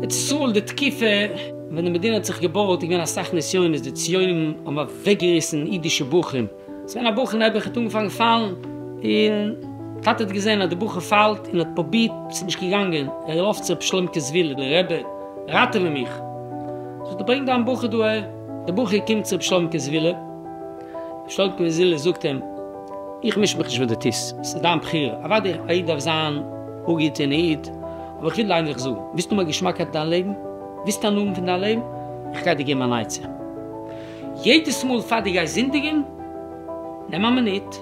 איצט צאל די תקופה ווען די מדינה האט זיך געבויט איז געווען אסאך נסיונות די ציונים האבן אוועקגעריסן אידישע בחורים. ס'געווען א בחור נעבעך האט אנגעפאנגען פאלן און טאטע האט געזעהן אז די בחור פאלט און האט פרובירט ס'איז נישט געגאנגען ער לויפט צו ר' שלומקע זוויל די רבי ראטעווע מיך זאגט ער ברענג דיין בחור דא אהער די בחור קומט צו ר' שלומקע זוויל ר' שלומקע זוויל ר' זאגט אים איך מיש מיך נישט וואס דו טוסט ס'איז דיין בחירה אוודאי א איד דארף זיין א גוטער איד אבער איך וויל ענדליך זאגן ווילסט האבן א געשמאקייט אין דיין לעבן ווילסט הנאה האבן פון דיין לעבן איך גיי דיר געבן אן עצה. יעדעס מאל פאר דו גייסט זינדיגען, נעם א מינוט,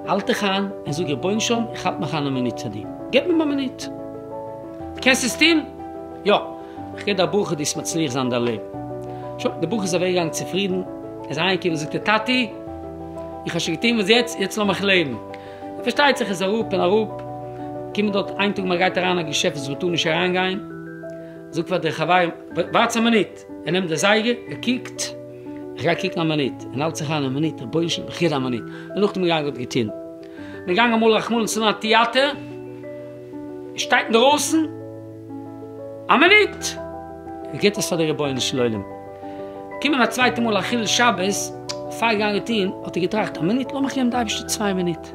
האלט דיך איין און זאג רבוןשלום איך האלט מיך איין א מינוט צו דיר, געב מיר א מינוט. דו קענסט עס טון? יא. איך גיב דיר א ברכה דו עסט מצליח זיין אין דיין לעבן. שוין, דער בחור איז אוועק געגאנגען צופרידן, ער איז אהיים געקומען זאגט ער טאטי איך האב שוין געטון וואס יעצט, יעצט לאז מיך לעבן. פארשטייט זיך ער איז אראפ און אראפ געקומען דארט איין טאג מען גייט אריין אין א געשעפט וואס מען טאר נישט אריין גיין, זאגט פאר די חברים ווארטס א מינוט, ער נעמט די זייגער, ער קוקט, איך גיי קוקן א מינוט, און האלט זיך איין א מינוט, רבוש ע, בחירה א מינוט, און נאכדעם געגאנגען האט געטון. מ'געגאנגען אמאל רחמנא ליצלן אין א טיאטער, ער שטייט אינדרויסן א מינוט, ער גיבט עס פאר די רבונו של עולם. געקומען א צווייטע מאל א חילול שבת, פאר געגאנגען טון, האט ער געטראכט, א מינוט, לאמיך געבן די אייבערשטער צוויי מינוט. ער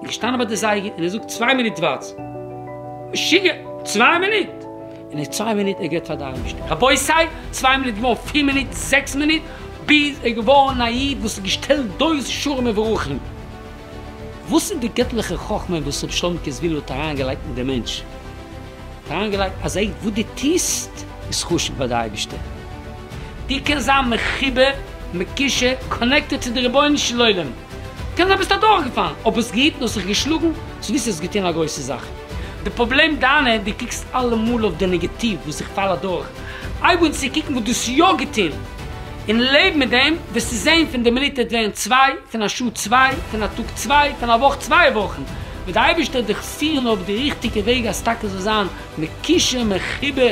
איז געשטאנען ביי די זייגער, און ער זאגט, צוויי מינוט ווארטס! משוגע! צוויי מינוט! און אין צוויי מינוט ער געט פאר די אייבישטער רבותי, צוויי מינוט געווארן פיר מינוט, זעקס מינוט, ביז ער געווארן א איד וואס איז געשטעלט דורך שרים וברוכים. וואס איז די געטליכע חכמה וואס רבי שלמ'קע ז ל האט אריין געלייגט אין די מענטש? האט אריין געלייגט אז עי וואס די טוסט איז חשוב ביי די אייבישטער, די קענסט זיין מחובר, מקושר, קאנעקטעד צו די רבונו של עולם, קען זיין ביסט אדורך געפאלן אבער זיך געהיטן האסט זיך געשלאגן, זאגסט דו האסט געטון א גרויסע זאך. די פראבלעם דיינע, דו קוקסט אלעמאל אויף די נעגעטיוו וואס איך פאל אדורך, הייב אן צו קוקן וואס דו האסט יא געטון, און לעב מיט דעם, וועסטו זען פון די מינוט עט ווערן צוויי, פון א שעה צוויי, פון א טאג צוויי, פון א וואך צוויי וואכן, וועט די אייבערשטער דיך פירן אויף די ריכטיגע וועג אז טאקע זאל זיין מקושר מחובר